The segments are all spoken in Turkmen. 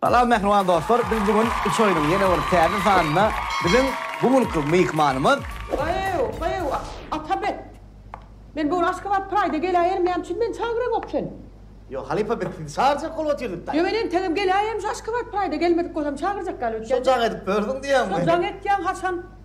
Salam mähriban dostlar biz bu gün üç oýnuň ýene bir täze sanynda biziň bu günki myhmanymyz. Gyýw, gyýw, Atabek! Men bu gün Aşgabat Pride-a geläýerin näme üçin meni çagyranok sen? Ýok, halypa biz sizi çagyrjak bolup otyrdyk-da. Ýöne entegem geläýerin şu Aşgabat Pride-a gelmedik bolsam çagyrjak ýaly öýtýän. Şo jaň edip ýördüň diýýäňmi? Şo jaň etýän haçan?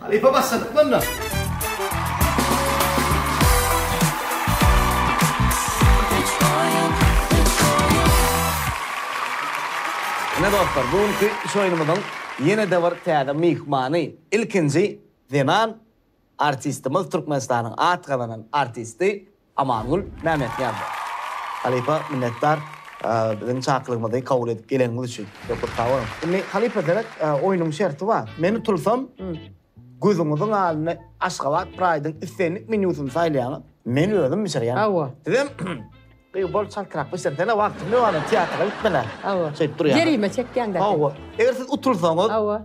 Halypa başladyk bunda. Ine dostlar, bu günki iş oýnumyzyň ýene-de bir täze myhmany, ilkinji zenan artistimiz, Türkmenistanyň at gazanan artisti Amangül Mämmetnýazow. Halypa minnetdar biziň çakylygymyzy kabul edip geleniňiz üçin. Köp köp sag boluň. Indi halypa seret oýnuň şerti bar. Men utulsam gözüňiziň alnyna Aşgabat Pride-iň islendik menýusyny saýlaýaňyz. Men özüm bişirýän. Hawa. Sizem gyz bol çaltrak bişirsene wagtyň ýok ana teatra gitmela. Hawa. Şeýdip durýaňyz. Jerime çekýäňdä. Hawa. Eger siz utulsaňyz. Hawa.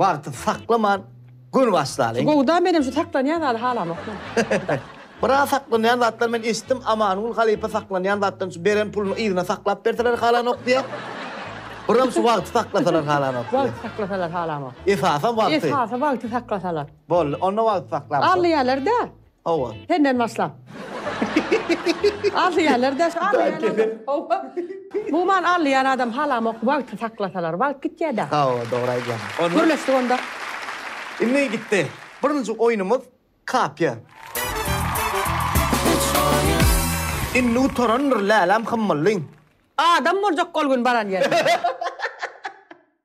Wagty saklaman göni başlalyň. Gowuda menem şu saklanýan zady halamokman. Biraz saklanýan zatlar men eşitdim Amangul halypa saklanýan zatdan şu beren puluny yzyna saklap berseler halanok diýe. Biram şu wagty saklasalar halanok. Wagty saklasalar halamok. Esasam wagty. Esasy wagty saklasalar. Boldy onda wagty saklap. Alýalar da. Hawa. Senden başlap. Alýarlar daş Hawa. Bu man alýan adam halamok wagty saklasalar wagt gitýä da. Hawa dogry aýdýaň. Gürleşdik onda. Indi gitdi. Birinji oýnumyz kapýa. Indi gutarandyr läläm hymmyllyň. Adam boljak ol gün baran ýerine.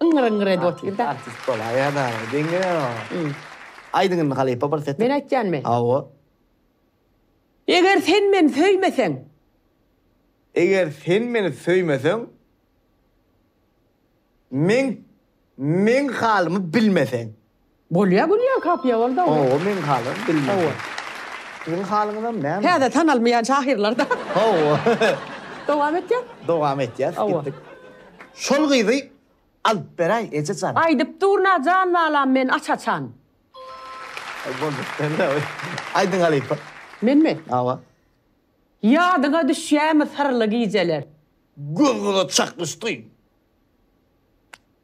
Yňgyr-yňgyr edip otyr-da. Artist, artist bolaýa-da, diňe aýdyň indi halypa bir seti. Men aýtýanmy? Hawa. Eger sen meni söýmeseň. Eger sen meni söýmeseň. Meň, meň halymy bilmeseň. Bolýa gülýän kapyýa boldy ogly. Hawa meň halyň bilmedi. Siziň halyňyzam näme? Täze tanalmaýan şahyrlar da. Hawa. Dowam etýäs. Dowam etýäs. Hawa. Gitdik. Şol gyzy alyp beräý eje jan. Aýdyp durna jan balam men aç açan. Boldy sende oý. Aýdyň halypa. Menmi? Hawa. Ýadyňa düşýämi syrly gijeler. Göz-göze çaknyşdy.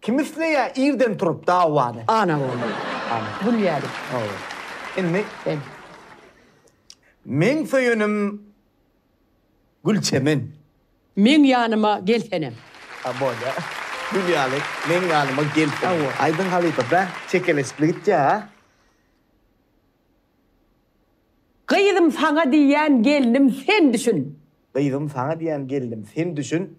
Kim isleýä irden turup dawany. Ana boldy. Ana. Gül ýaly. Hawa. Indi. Sen. Meň söýenim Gülçemen. Meň ýanyma gelsenem. A bolýa. Gül ýaly meň ýanyma gelsenem. Hawa. Aýdyň halypa bä çekeleşikli gitýä a. Gyzym saňa diýýän gelnim sen düşün. Gyzym saňa diýýän gelnim sen düşün.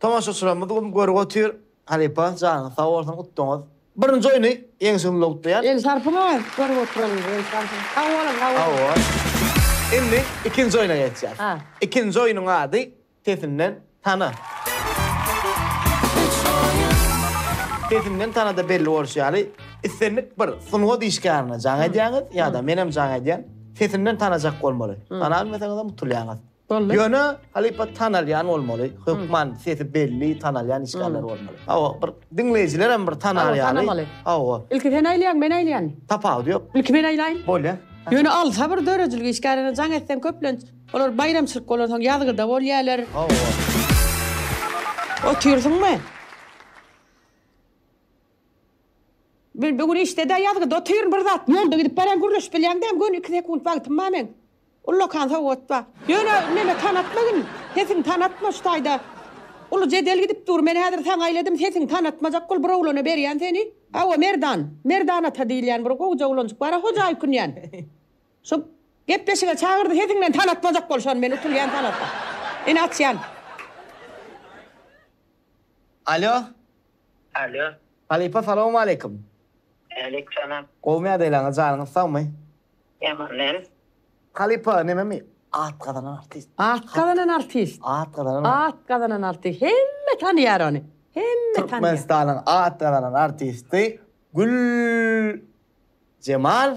Tomaşaçylarymyz güm görüp otyr. Halypa janyňyz sag bolsun utdyňyz. Birinji oýny ýeňiş gümle gutlaýan. El sarpyňa görüp oturanymyz el sarpyň. Sag boluň sag boluň. Hawa. Indi ikinji oýna geçýäs. Ikinji oýnuň ady Sesinden tana. Sesinden tanada belli bolşy ýaly islendik bir sungat işgärine jaň edýäňiz ýa-da menem jaň edýän. Sesinden tanajak bolmaly. Tana bilmeseňizem utulýaňyz. Boldy. Ýöne halypa tanalýan bolmaly. Hökman sesi belli, tanalýan işgärler bolmaly. Hawa, bir diňleýjiler hem bir tanar ýaly. Tanamaly. Hawa. Ilki sen aýlaýaň, men aýlaýan. Tapawudy ýok. Ilki men aýlaýyn. Bolýa. Ýöne alsa bir döredijilik işgärine jaň etseň köplenç olar baýramçylyk bolansoň ýazgyda bolýalar. Hawa. Otyrsyňmy? Men bu gün işdedä ýazgyda otyryn bir zat. Ýolda gidip barýan gürleşip bilýäň däm göni iki sekunt wagtym ba meň. Ullakan sowgat ba. Ýöne meme tanatma gin. Sesiň tanatma şu taýda. Uly jedel gidip dur men häzir saňa aýladym sesiň tanatmajak bol bir oglana berýän seni. Hawa Merdan. Merdan ata diýilýän bir gowja oglanjyk bara hoja öýkünýän. Şu gepleşige çagyrdy sesiňden tanatmajak bol şony men utulýan tanatma. Ine açýan. Alo. Alo. Halypa salawmaleýkim. Äleýk salam. Gowymy ýagdaýlaryňyz janyňyz sagmy. Ýaman däl. Halypa nememi at gazanan artist. At gazanan artist. At gazanan artist. At gazanan artist hemme tanyýar ony. Hemme tanyýar. Türkmenistanyň at gazanan artisti Gül Jemal.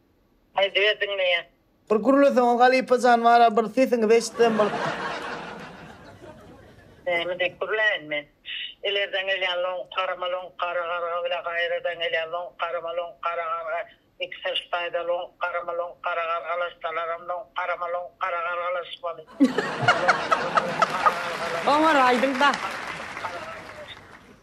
Aýdyber diňleýän. Bir gürleseňiz halypajan bara bir sesiňizi eşitsem bir. Näme diýip gürläýin men. Ilerden gelýän loňk garama loňk gara garga bile gaýradan gelýän loňk garama loňk gara garga iki syrs taýda loňk garama loňk gara gargalaşsalaram loňk garama loňk gara gargalaşmaly loňk garama loňk gara gargalaşmaly Oňar aýdyňda.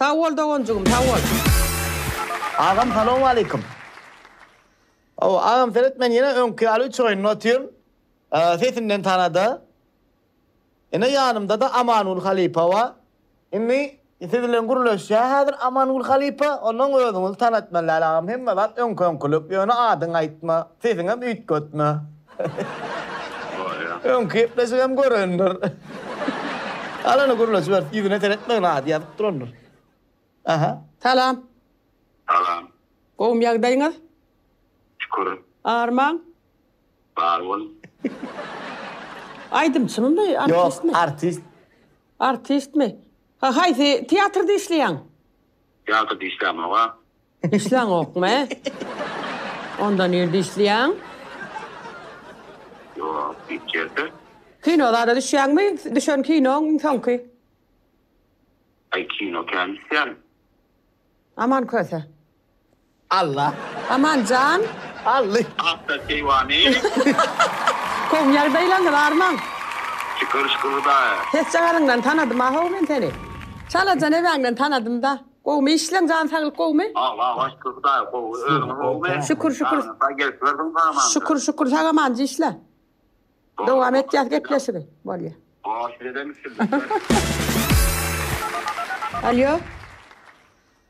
Sag bol doganjygym sag bol. Agam salowmaleýkim. Hawa agam seret men ýene öňki ýaly üç oýunda otyryn. Sesinden tanada. Ine ýanymdada Amanguly halypa ba. Indi siz bilen gürleşýä häzir Amanguly halypa ondan özüňizi tanat men Läle agam hemme zat öňki öňkülik ýöne adyňy aýtma sesiňem üýtgetme. Öňki gepleşigem görendir. Galany gürle jübert, ýüzüne seretmegin ady ýazyp durandyr. Aha. Salam. Salam. Gowumy ýagdaýyňyz? Şükür. Arman? Bar bol. Aýdymçymymy, artistmi? Ýok, artist. Artistmi? Haýsy teatrda işleýäň? Teatrda işlämok-a. Dişleňokmy? Onda nirde işleýäň? Ýok, hiç ýerde. Kino zala düşýäňmi? Düşen kinoň soňky? Aý, kino kän düşýän. Aman köse. Alla. Aman jan. Alla. Akda keýwany. Kom ýagdaýlaňyz armaň. Şükür, şükür Hudaýa. Sesjagazyňdan tanadym-a-how men seni. Çalajan ebäňden tanadym-da. Gowmy işleň jan saglyk gowmy. Allah'a şükür Hudaý gowy özüňiz gowmy. Şükür şükür. Saňa sag gelip gördüm sagamany. Şükür şükür sag amanca işle. Dowam etýäs gepleşigi. Bolýa. Gowy sizedem üstünlikler. Alýo.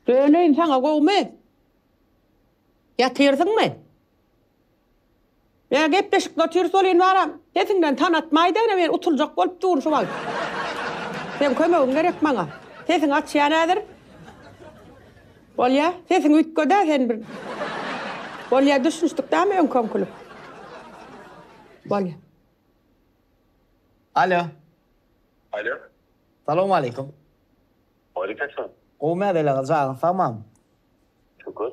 Döneýin saňa gowmy. Ýatyrsyňmy. Ýa gepleşikde otyrys welin baram. Sesiňden tanatmaý degine men utuljak bolup durun şu wagt. Seň kömegiň gerek maňa. Sesiňi açýan häzir. Bolýa. Sesiň üýtgedä sen bir. Bolýa düşünişdik dämi öňki öňkülik. Bolýa. Alo. Alo. Salowmaleýkum. Waleýkim salam. Gowymy Adel aga jagyň sagmamy? Şükür.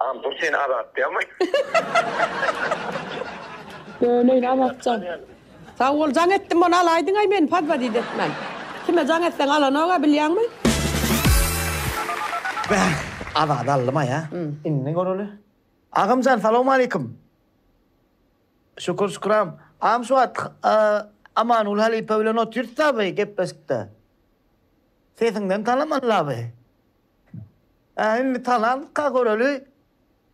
Agam dur seni azatýamy. Döneýin Azatjan. Sag bol jaň etdim ony alaýdyňaý meni podwodit etmän. Kime jaň etseň alanoga bilýäňmi? Bäh Azady aldymaý a. Indi göreli. Agamjan salowmaleýkim. Şükür şüküram. Agam şu wagt Amanguly halypa bilen otyrys-da bi gepleşikde. Sesiňden tanaman-la bi. Ä indi talanka göreli.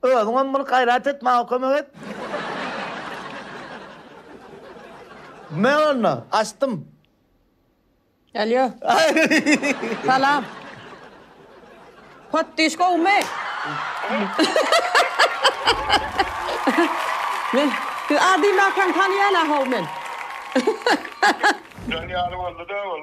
Özüňem bir gaýrat et maňa kömek et. Men onda açdym. Alýo. Salam. Potdyş gowumy? Men siz a diýmäkäm tanaýan ahow men. Jan ýaly boldy-da ol.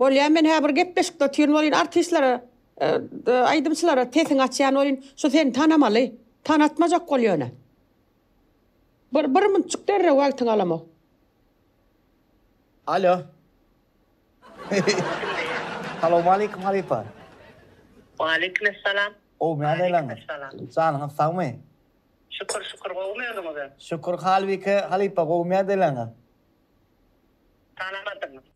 Bolýa men hä bir gepleşikde otyryn welin artistlere aýdymçylara sesiňi açýan welin şu seni tanamaly tanatmajak bol ýöne bir bir munçuk derrew wagtyňy alamok. Alo. Salowmaleýkim halypa. Waleýkim essalam. Gowymy ýagdaýlaryňyz? Janyňyz sagmy? Şükür şükür gowymy özüňize? Şükür halbike halypa gowymy ýagdaýlaryňyz? Tanamadym.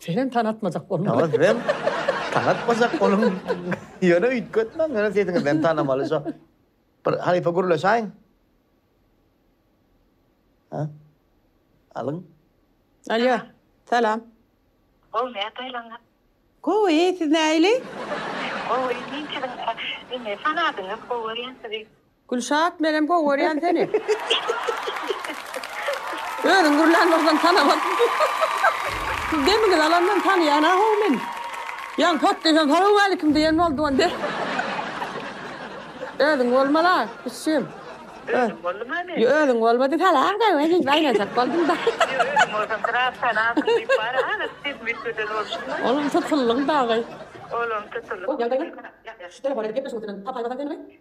Senem tanatmajak bolma. Ýa sizem tanatmajak boluň. Ýöne üýtgetmäň, ýöne sesiňizden tanamaly şo. Bir halypa gürleşäýiň. Ha? Alyň. Alýo, salam. Gowy, nätaýlaňyz? Gowy, siz näili? Gowy, men siziň, indi sanadyňyz, gowy görýän sizi. Gülşat menem gowy görýän seni. Özüň gürlän bolsaň tanamat. Siz demiňizi alandan tanaýan a how meni. Ýan pot diýsem salowmalikim diýen boldy ol de. Özüň bolmaly a kiçijigim. Özüm boldum a men. Ýo özüň bolmady salawda we diýip aýlanjak boldum da. Ýo özüň bolsaň biraz tanarsyň diýip bary aňyryk ses müýtgeden bolşuň. Olam tutulyň dagy. Olam tutulyň. Gowy ýagdaýlar. Ýagşy telefon edip gepleşmek üçinem tapaymasaň seni we.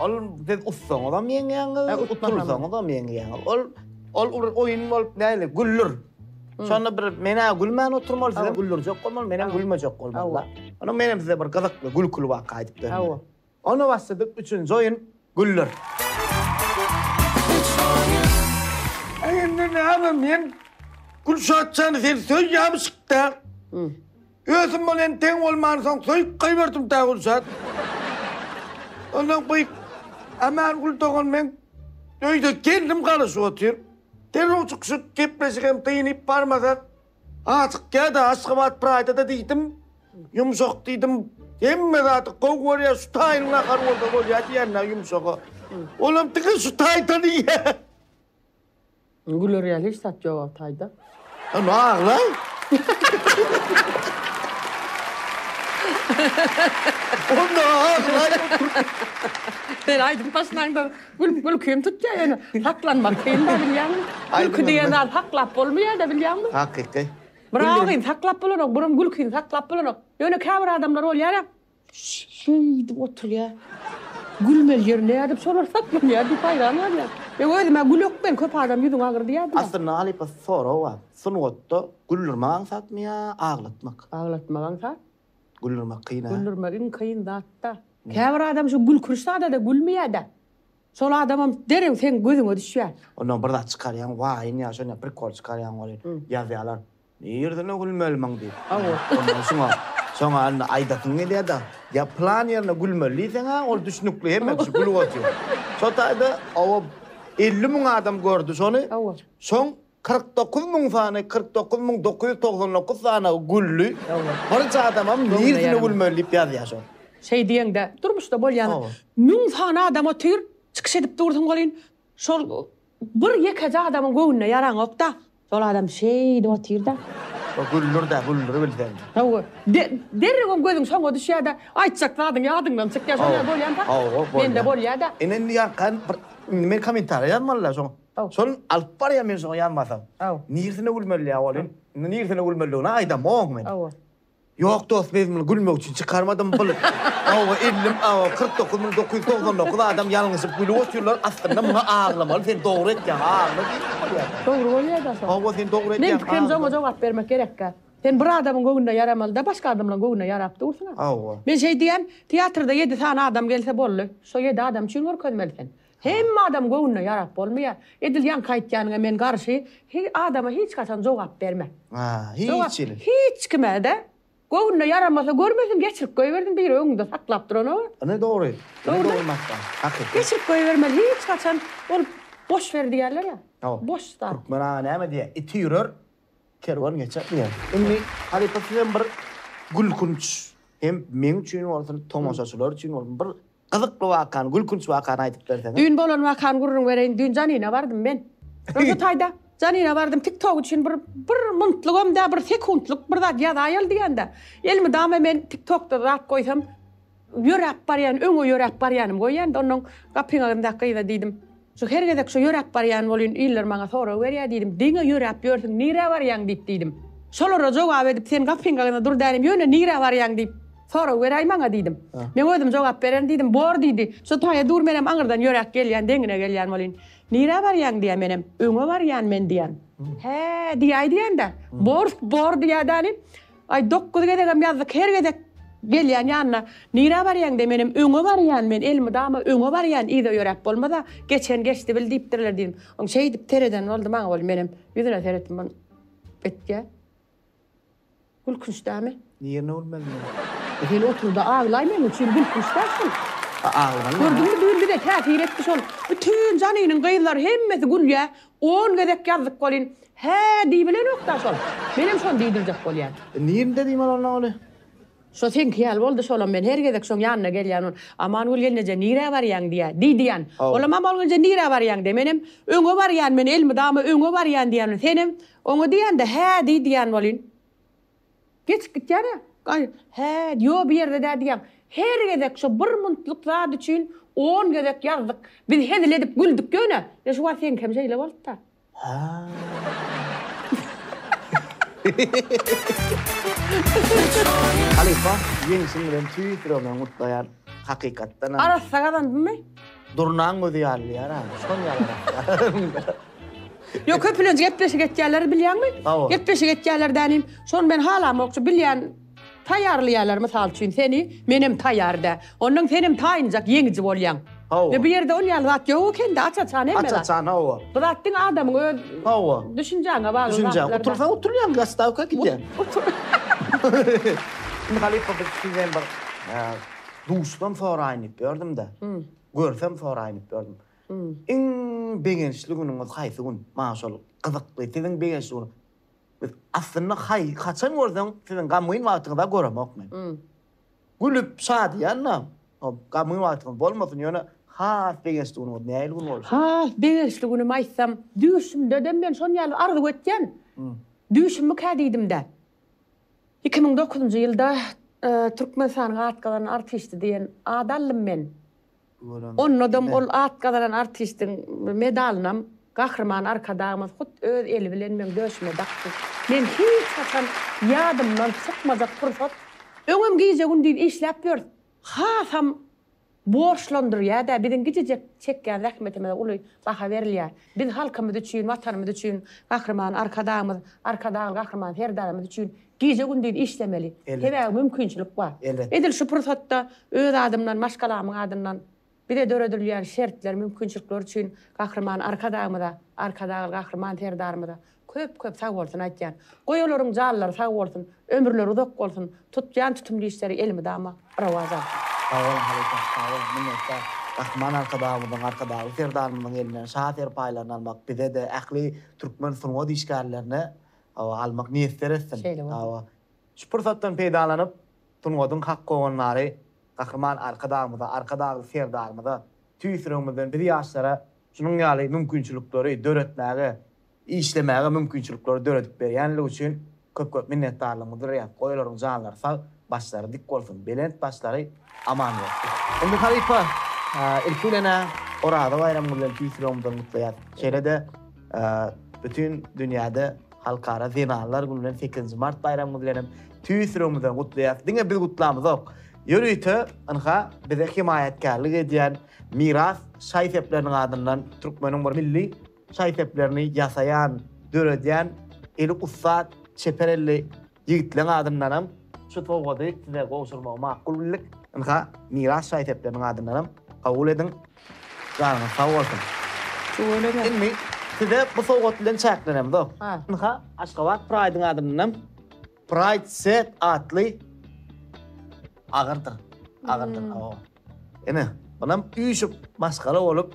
Ol siz utsaňyzam ýeňýäňiz, utulsaňyzam ýeňýäňiz. Ol ol bir oýun bolup näli, gülür. Şonda bir men-ä gülmän oturmaly, siz hem güldürjek bolmaly, men hem gülmejek bolmaly. Ony men hem size bir gyzykly, gülküli waka aýdyp bereli. Onda başladyk üçünji oýun, gülür. Aý indi näme men Gülşatjany sen söýýämişik-dä. Ösüm bolýan teň bolmansoň söýüp goýberdim tä Gülşat. Ondan gyk. Aman Gül dogan men öýde gelnim galyşyp otyr. Derrew çykyşyp gepleşigem dynyp barmasa Aşyk kädä Aşgabat Praýda-da diýdim. Ýumşak diýdim. Hemme zady gowy görýär şu taýynyň nahary bolsa bolýar diýýän-dä ýumşaga. Olam diňe şu taýdan iýýär. Güler ýaly hiç zat ýok Altayda. Onda aglaý. Onda aglaý. Sen aýdyp başlaňda gül gülkim tutýa ýöne saklanmak kyn da bilýäňmi? Gülki diýen zat saklap bolmaýa da bilýäňmi? Hakyky. Biragyny saklap bolanok, birim gülkini saklap bolanok. Ýöne käbir adamlar bolýara. Şeýdip oturýar. Gülmeli ýeri näde diýip sorarsak, gülýär diýip haýran galýar. Ýa özüm-ä gülek men, köp adam ýüzüň agyr diýýär diýýär. Aslynda halypa sorag bar. Sungatda güldürmek aňsatmy ýa aglatmak? Aglatmak aňsat. Güldürmek kyn-a. Güldürmek iň kyn zat-da. Käbir adam şu gülkünç zada-da gülmeýär-de. Şol adamam derew seň gözüňe düşýär. Ondan bir zat çykarýaň, waýyň ýa şonda prikol çykarýaň welin, ýazýarlar. Nireden gülmelimin diýip. Ondan soň, soňa indi aýdasyň gelýär-de, ýa plan ýerine gülmeli diýseň-ä, ol düşnükli, hemme kişi gülüp otyr. Şo taýda oba elli müň adam gördi şony. Soň kyrk dokuz müň sany, kyrk dokuz müň dokuz ýüz togsan dokuz sany güldi. Birje adamam nireden gülmeli diýip ýazýar şo. Şeý diýeňde, durmuşda bolýan, müň sany adam otyr, çykyş edip dursun welin, Şol bir ýekeje adamyň göwnüne ýaraňok-da. Şol adam şeýdip otyr-da. Şo güldür-de, güldür bilseň. Hawa. Derrewem gözüň şoňa düşýär-de, aýtjak zadyň ýadyňdan çykýar. Şoňa bolýan-da. Hawa, bolýar. Mende bolýar-da. Ine indi ýarkan bir indi men kommentariýa ýazmaly-da şoň. Şol alyp barýan men şoňa ýazmasam. Niresine gülmeli ýa ol? Indi niresine gülmelidigini aýdamok men. Hawa. Ýok dost biz muny gülmek üçin çykarmadym bul awa ellim awa kyrk dokuz müň dokuz ýüz togsan dokuz adam ýalňyşyp gülüp otyrlar aslynda muňa aglamaly sen dogry etýäň agla diýip bolýar. Dogry bolýada şo. Hawa sen dogry etýäň. Meň pikirimce oňa jogap bermek gerekkä. Sen bir adamyň göwnüne ýaramalyda başga adamlaň göwnüne ýarap dursyňa. Hawa. Men şeý diýýän teatrda ýedi sany adam gelse boldy şo ýedi adam üçin görkezmeli sen. Hemme adam göwnüne ýarap bolmaýa. Edil ýaňky aýtýanyňa men garşy hi adama hiç haçan jogap berme. Ha hiç hili. Hiç kimede göwnüne ýaramasa görmesin geçirip göýbersin biri öňünde saklap duranow. Ine dogry. Ine dogry maşgala. Hakyky. Geçirip göýbermeli hiç haçan ol boş ber diýerler ýa. Hawa. Boş zat. Türkmen aga näme diýer iti ýürer kerwen geçer diýer. Indi halypa sizem bir gülkünç hem meň üçin bolsun tomaşaçylar üçin bolsun bir Gyzykly wakany, gülkünç wakany aýdyp berseňiz. Düýn bolan wakany gürrüň bereýin, düýn Janina bardym men. Roza taýda, Janina bardym, tik tok üçin bir bir muntlyk hem däl, bir sekuntlyk bir zat ýazaýaly diýende, elimi dama men tik tokda zat goýsam, ýöräp barýan, öňe ýöräp barýanym goýýan-da, onnoň gapyň aňyryndaky gyza diýdim. Şu her gezek şo ýöräp barýan bolýyn, iller maňa sorag berýär diýdim. Diňe ýöräp ýörsüň, nirä barýaň diýip diýdim. Şolara jogap edip sen gapyň agzynda dur dänim, ýöne nirä barýaň diýip sorag beräý maňa diýdim. Men özüm jogap bererin diýdim. Bor diýdi. Şo taýa dur menem aňyrdan ýöräp gelýän, deňine gelýän bolýyn. Nirä barýaň diýýä menem. Öňe barýan men diýýän. Hä diýäý diýändä. Bor, bor diýýä dänim. Aý dokuz gezegem ýazdyk her gezek gelýän ýanyna nirä barýaň de menem öňe barýan men elmydama öňe barýan yza ýöräp bolmasa geçen geçdi bil diýipdirler diýdim oň şeýdip sereden boldy maňa ol menem ýüzüne seretdim ol etýä gülkünç dämi. Nirne gülmeli men. E hili oturda aglaý meň üçin gülkünç dä şul. A aglaýyn. Gördüňmi düýn bize täsir etdi şol bütün janynyň gyzlary hemmesi gülýä On gezek ýazdyk welin, hä diýibilenok-da şol. Menem şony diýdirjek bolýan. Nirnde diýmeli onda ony? Şo seňki ýaly boldy şolam men her gezek şoň ýanyna gelýän ol Amangül gelneje nirä barýaň diýýä diý diýýän olam Amangülje nirä barýaň de menem öňe barýan men elmydama öňe barýan diýýän senem oňe diýende hä diý diýýän welin Geçip gitýär-ä, gaýy. Hä, ýo bu ýerde dä diýýäň. Her gezek şo bir muntlyk zat üçin on gezek ýazdyk. Biz hezil edip güldük ýöne. Ýa şu wagt seňki hem şeýle bolupda. Hä. Halypa, ýeňşiň bilen tüýs ýüregimden gutlaýan, hakykatdanam. Arassa gazandymy? Durnaň gözi ýalydyýar ha. Şon ýalyrak. Ýok, köpülenç gepleşik etýärler bilýäňmi? Hawa. Gepleşik etýärler dänim. Şony men halamokçy, bilýän taýýarlaýarlar mysal üçin seni, menem taýýar dä. Ondan senem taýynjak ýeňiji bolýaň. Hawa. Ýa bu ýerde ol ýaly zat ýok ekende, aç-açan hemme zat. Aç-açan, hawa. Bu zat diňe adamyň öz Hawa. düşünjäňe bagly zatlar. Düşünjä. da. Utulsaň utulýaň, gastawka gidýäň. Indi halypa biz siz hem bir Duşsam soraýyn diýip ýördüm-de, görsem soraýyn diýip ýördüm. Iň begençli günüňiz haýsy gün? Maňa şol gyzykly. Siziň begençli gün Biz aslynda haý haçan görseň siziň gamgyn wagtyňyz-a göremok men. Gülüp şadyýan-da. Hop, gamgyn wagtyňyz bolmasyn, ýöne has begençli günüňiz nähili gün bolsun? Has begençli günümi aýtsam, düýşümde-de men şony ýaly arzuw etýän. Düýşümmikä diýdim-de. Iki müň dokuzynjy ýylda Türkmenistanyň at gazanan artisti diýen ad aldym men. Onnodaň ol at gazanan artistiň medalynam Gahryman Arkadagymyz hut öz eli bilen meň döşüme dakdy. Men hiç haçan ýadymdan çykmajak pursat. Öňem gije-gündiz işläp ýörüs. hasam borçlandyrýar-da, biziň gijejek çekýän zähmetimize uly baha berilýär. Biz halkymyz üçin, Watanymyz üçin, Gahryman Arkadagymyz, Arkadagly Gahryman Serdarymyz üçin gije-gündiz işlemeli. Sebäbi mümkinçilik bar. Edil şu pursatda öz adymdan, maşgalamyň adyndan. Bize döredilýän şertler, mümkinçilikler üçin Gahryman Arkadagymyza, Arkadagly Gahryman Serdarymyza köp-köp sagbolsun aýtýan. Goý olaryň janlary sag bolsun, ömürleri uzak bolsun, tutýan tutumly işleri elmydama rowaç alsyn. Sag boluň halypa, sag boluň, minnetdar. Gahryman Arkadagymyzyň, Arkadagly Serdarymyzyň elinden şa serpaýlaryny almak bize-de, ähli türkmen sungat işgärlerine, hawa, almak miýesser etsin. Şeýle bolsun. Hawa. Şu pursatdan peýdalanyp, Sungatyň hak howandary Gahryman Arkadagymyza, Arkadagly Serdarymyza tüýs ýüregimizden biz ýaşlara şunuň ýaly mümkinçilikleri döretmäge, işlemäge mümkinçilikleri döredip berýänligi üçin köp-köp minnetdarlygymyzy bildirýäris. Goý olaryň janlary sag, başlary dik bolsun, belent başlary aman bolsun! Indi halypa, ilki bilen-ä Oraza baýramyňyz bilen tüýs ýüregimizden gutlaýarys. Şeýle-de. Bütin dünýäde Halkara zenanlar güni bilen sekizinji mart baýramy bilen hem tüýs ýüregimizden gutlaýarys. Diňe biz gutlamyzok. Ýörite ynha bize hemaýatkärlik edýän Miras şaý-sepleriniň adyndan türkmeniň bir milli şaý-seplerini ýasaýan, döredýän eli ussat, çeper elli Ýigitleň adyndanam şu sowgady size gowşurmagy makul bildik. Ynha, Miras şaý-sepleriniň adyndanam kabul ediň. Janyňyz sag bolsun. Tüweleme. Indi size bu sowgat bilen çäklenemzok. Ynha, Aşgabat Pride-yň adyndanam Pride Set atly agyrdyr, agyrdyr, awa. Ine, munam üýşüp, maşgala bolup,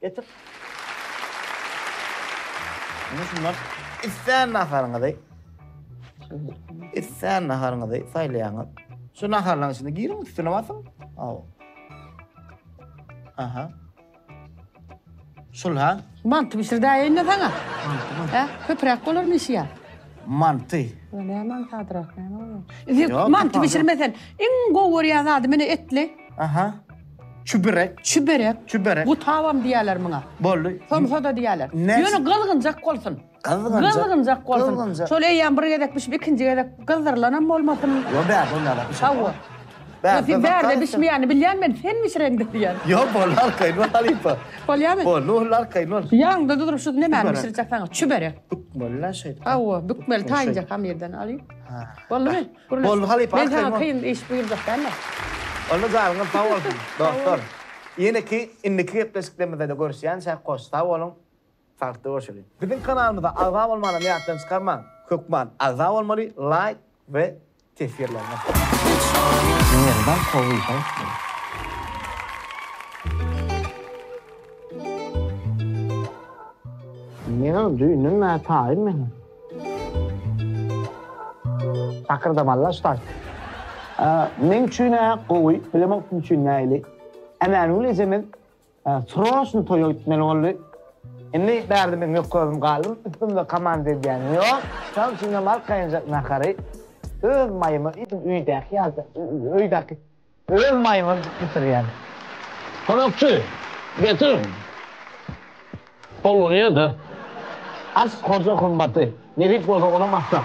Getir. Indi şundan islän naharyňyzy, islän naharyňyzy saýlaýaňyz. Şu naharlaryň içine giriň, üstüne basyň. Aw. Aha. Şul ha? Manty bişirdäýeýin-de saňa. Hä? Köpräk bolar meşi ýa. Manty. Bu ne mantı adyrak, näme bolýar? Indi Ýok, mantı tapawul. bişirmesen, iň gowy görýän zady mine etli. Aha. Çübürek. Çüberek. Çüberek. Gutabam diýerler muňa. Boldy. Somsa-da diýerler. Näçe? Ýöne gyzgynjak bolsun. Gyzgynjak. Gyzgynjak bolsun. Gyzgynjak. Şol eýýäm bir gezek bişip, ikinji gezek gyzdyrylanam bolmasyn. Ýok, bärde ol nädip bişer. Hawa. Bärde Sen bärde gyzartýar. bişmeýänini bilýän men, sen bişireň diýýän. Ýok, boldy, arkaýyn bol, halypa. Bolýamy? Boldy, boldy, arkaýyn bol. Ýanyňda durup şu nemäni Çüberek. bişirjek saňa? Çüberek. Bükmeli-le şeýdip. Hawa, bükmeli, taýynjak hamyrdan alyp. Ha. Boldumy? Boldy halypa Men saňa kyn iş buýurjak dälme. Onda jaňyňyz sag bolsun, dostlar. Ýeneki indiki gepleşiklerimizde-de görüşýänçäk hoş sag boluň, sagdykda görşeliň. Biziň kanalymyza agza bolmanam ýatdan çykarmaň hökman agza bolmaly laýk we teswirleriňiz. Menem düýnüm nätaýyn menem. Takyrdamalla start. Meň üçin-ä gowy, bilemok kim üçin nähili. Ämänigül ejemiz sroçno toýa gitmeli boldy. Indi bärde men ýokka özüm galdym, üstümde komanda edýänim ýok. Şonuň üçin hem arkaýynjak nahary öz maýyma iýdim, öýdäki ýaly, öýdäki. Goýun maýmyn bitirýän. Konakçy, getir! Golluny ýerde as, hoja gymmaty nebit bolsa onam asla.